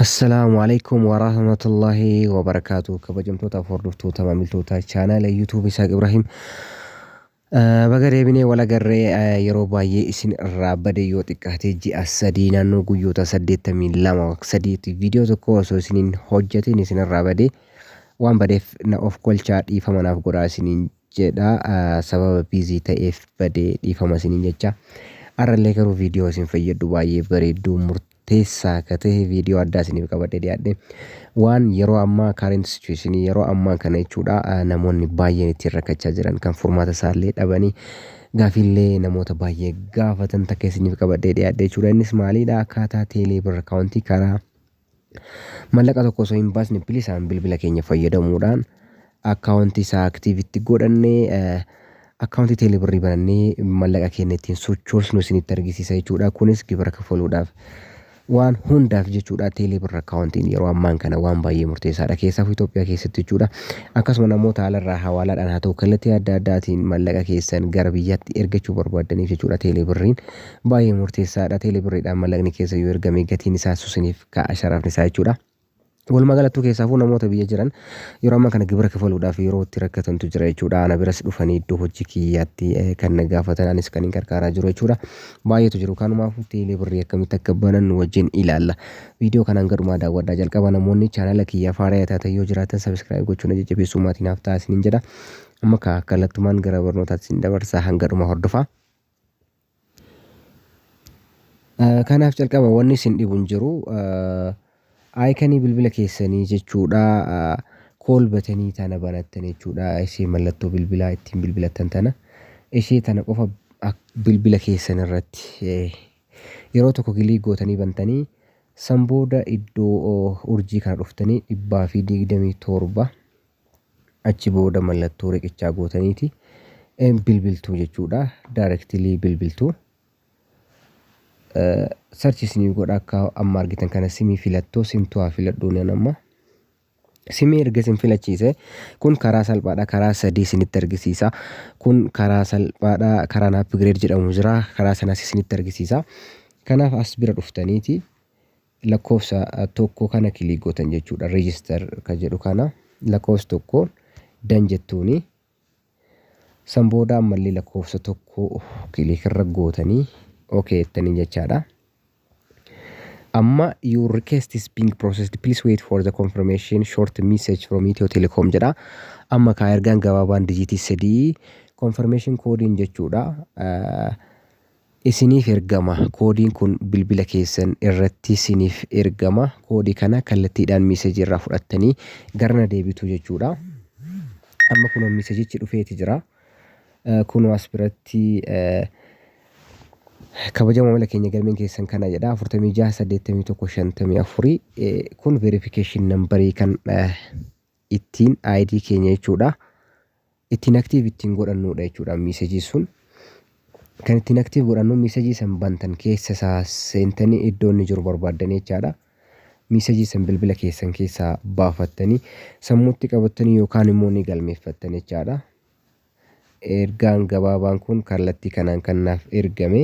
Assalaamu alaikum warahmatullahi wabarakaatu kabajamtoota hordoftoota maamiltoota chaanaala yuutuub Isaaq Ibrahim baga deebinee wal agarree yeroo baay'ee isin irraa bade yoo xiqqaatee ji'a sadii naannoo guyyoota saddeettamii lama sadiitti viidiyoo tokko osoo isiniin hojjetiin isin irraa bade waan badeef na of kolchaa dhiifama naaf godhaa isiniin jedha sababa biizii ta'eef bade dhiifama isiniin jecha arrallee garuu viidiyoo isin fayyaddu baay'ee bareedduu murtii keessaa akka ta'e viidiyoo addaa isiniif qabadhee dhiyaadhe. Waan yeroo ammaa current situation yeroo ammaa kana jechuudha ah, namoonni baay'een ittiin rakkachaa jiran kan furmaata isaallee dhabanii gaafiillee namoota baay'ee gaafatan takka isiniif qabadhee dhiyaadhe jechuudha. Innis maaliidha akkaataa teelee birra kaawuntii karaa mallaqa tokko osoo hin baasne bilisaan bilbila keenya fayyadamuudhaan Account isaa active itti godhanne account teele birrii banannee mallaqa keenya ittiin sochoosnu isinitti argisiisa jechuudha. Kunis gibira kafaluudhaaf waan hundaaf jechuudha teelee birra akkaawuntiin yeroo ammaan kana waan baay'ee murteessaadha keessaafu Itoophiyaa keessatti jechuudha. Akkasuma namoota haalarraa hawaalaadhaan haa ta'u kallattii adda addaatiin mallaqa keessan gara biyyaatti ergachuu barbaaddaniif jechuudha teelee birriin baay'ee murteessaadha teelee birriidhaan mallaqni keessa yoo ergame gatiin isaa susiniif ka'a sharaafni isaa jechuudha. Walumaa galattuu keessaafuu namoota biyya jiran yeroo amma kana gibira kafaluudhaaf yeroo itti rakkatantu jira jechuudha. Ana biras dhufanii iddoo hojii kiyyaatti eh, kan na gaafatan anis kan hin gargaaraa jiru jechuudha. Baay'eetu jiru. Kanumaafuu teelee birrii akkamitti akka banan nu wajjin ilaalla. Viidiyoo kana hanga dhumaa daawwadhaa jalqaba namoonni chaanala kiyya faaraya taatan yoo jiraatan sabiskiraayib gochuun na jajjabeessuu maatii naaf ta'a isiniin jedha. Amma kaa kallattumaan gara barnootaatti isin dabarsa hanga dhuma hordofaa. Kanaaf calqaba wanni isin dhibu hin jiru. Aayikanii bilbila keessanii jechuudha kool batanii tana banattan jechuudha. Ishee mallattoo bilbilaa ittiin bilbilattan tana. Ishee tana qofa bilbila keessan irratti yeroo tokko kilii gootanii bantanii san booda iddoo urjii kana dhuftanii dhibbaa fi digdamii torba Achi booda mallattoo riqichaa gootaniiti bilbiltuu jechuudha. Directly bilbiltuu. Search isinii godha akka amma argitan kana simii filattoo simtuu haa filadhuu nan amma. Simii erga isin filachiise kun karaa salphaadha karaa sadii isinitti argisiisa. Kun karaa salphaadha karaan upgrade jedhamu jira karaa sanas isinitti argisiisa. Kanaaf as bira dhuftaniiti Lakkoofsa tokko kana click gootan jechuudha. Register kan jedhu kana lakkoofsa tokko dan jettuuni. San booda ammallee lakkoofsa tokko click irra gootanii okay jettanii jechaadha. Amma your request is being processed please wait for the confirmation short message from Ethio Telecom jedha. Amma kaa ergaan gabaabaan dijiitii sadii confirmation koodiin jechuudha. isiniif ergama. Koodiin kun bilbila keessan irratti siniif ergama. Koodii kana kallattiidhaan miisejii irraa fudhattanii gara na deebitu jechuudha. Amma kunoo miisejichi dhufeeti jira. Kunoo as biratti kabaja maamila keenya galmeen keessan kana jedha 46 81 54 kun verification nambarii kan ittiin ID keenya jechuudha ittiin active ittiin godhannuudha jechuudha message sun kan ittiin active godhannu message san bantan keessa isaa seentanii iddoo inni jiru barbaaddanii jechaadha message san bilbila keessan keessaa baafattanii sammuutti qabattanii yookaan immoo ni galmeeffattan jechaadha ergaan gabaabaan kun kallattii kanaan kan naaf ergame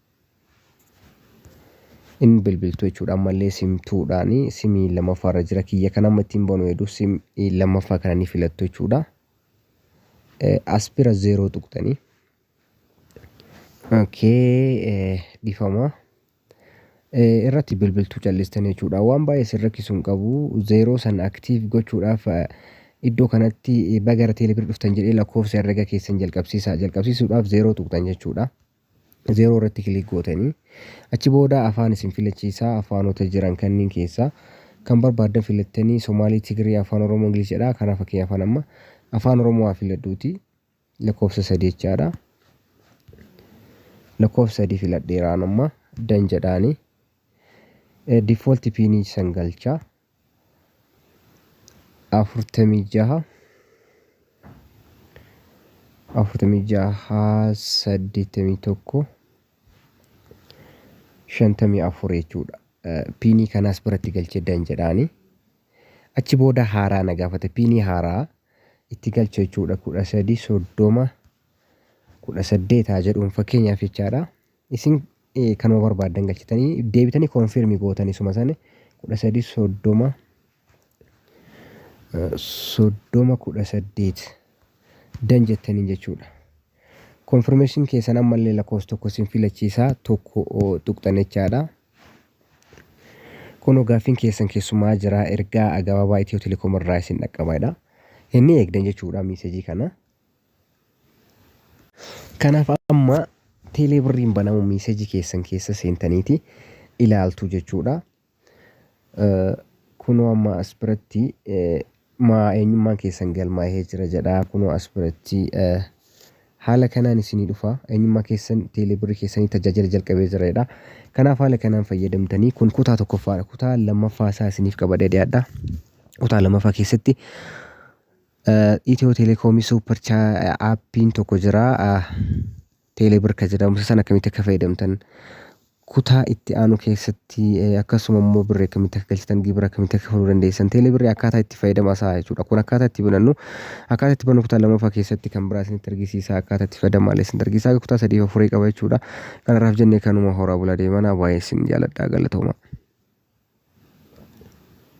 Hin bilbiltu jechuudha ammallee sim two dhaani simii lammaffaa irra jira kiyya kan amma ittiin banu hedu sim lammaffaa kana ni filattu jechuudha. As bira zeeroo tuqxanii. Okay dhifama. Irratti bilbiltuu callistan jechuudha waan baay'ee sin rakkisu hin qabu zeeroo san aktiiv gochuudhaaf iddoo kanatti baga gara teelebirri dhuftan jedhee lakkoofsa herrega keessan jalqabsiisa jalqabsiisuudhaaf zeeroo tuqxan jechuudha. 0 irratti kiliik gootanii achi booda afaan isin filachiisaa afaanota jiran kanniin keessaa kan barbaaddan filattanii Somaalii, Tigiree, Afaan Oromoo, Ingiliz jedhaa kanaa fakkeenya afaan amma Afaan Oromoo haa filadhuuti lakkoofsa 3 jechaadha. Lakkoofsa 3 filadheeraan amma dan jedhaani. Default piinii san galchaa. afurtamii jaha afurtamii jaha saddeettamii tokko shantamii afur jechuudha. Eh, Piinii kanaas biratti galchee dan jedhaani. Achi booda haaraa na gaafate piinii haaraa itti galcha jechuudha kudha sadii soddoma kudha saddeetaa jedhuun fakkeenyaaf jechaadha. isin kanuma barbaaddan galchitanii deebitanii konfirmi gootanii suma sana kudha sadii soddoma soddoma kudha saddeet dan jettaniin jechuudha. Konfirmeeshin keessan ammallee lakkoofsa tokko isin filachiisaa tokko tuqxan jechaadha. Kunoo gaaffiin keessan keessumaa jira ergaa gabaabaa Itiyoo Telekoom irraa isin dhaqqabaadha. Inni eegdan jechuudha miisejii kana. Kanaaf amma teelee birriin banamu miiseji keessan keessa seentaniiti ilaaltu jechuudha. Kunoo amma as biratti maa eenyummaan keessan galmaa'ee jira jedha. Kunoo as biratti haala kanaan isinii dhufa. Eenyummaa keessan teelee birrii keessanii tajaajila jalqabee jira jedha. Kanaaf haala kanaan fayyadamtanii kun kutaa tokkoffaadha. Kutaa lammaffaa isaa isiniif qabadhee dhiyaadha. Kutaa lammaffaa keessatti Itiyoo telekoomii suupper aappiin tokko jira. Teelee bir kan jedhamu isa sana akkamitti akka fayyadamtan kutaa itti aanu keessatti akkasuma immoo birri akkamitti akka galchitan gibira akkamitti akka kafaluu dandeessan teelee birri akkaataa itti fayyadama isaa jechuudha. Kun akkaataa itti banannu akkaataa itti bannu kutaa lammaffaa keessatti kan biraa isinitti argisiisa akkaataa itti fayyadamu malee isinitti argisiisa akka kutaa sadii afurii qaba jechuudha. Kanarraaf jennee kanuma horaa bulaa deemanaa baay'ee isin jaaladha galatooma.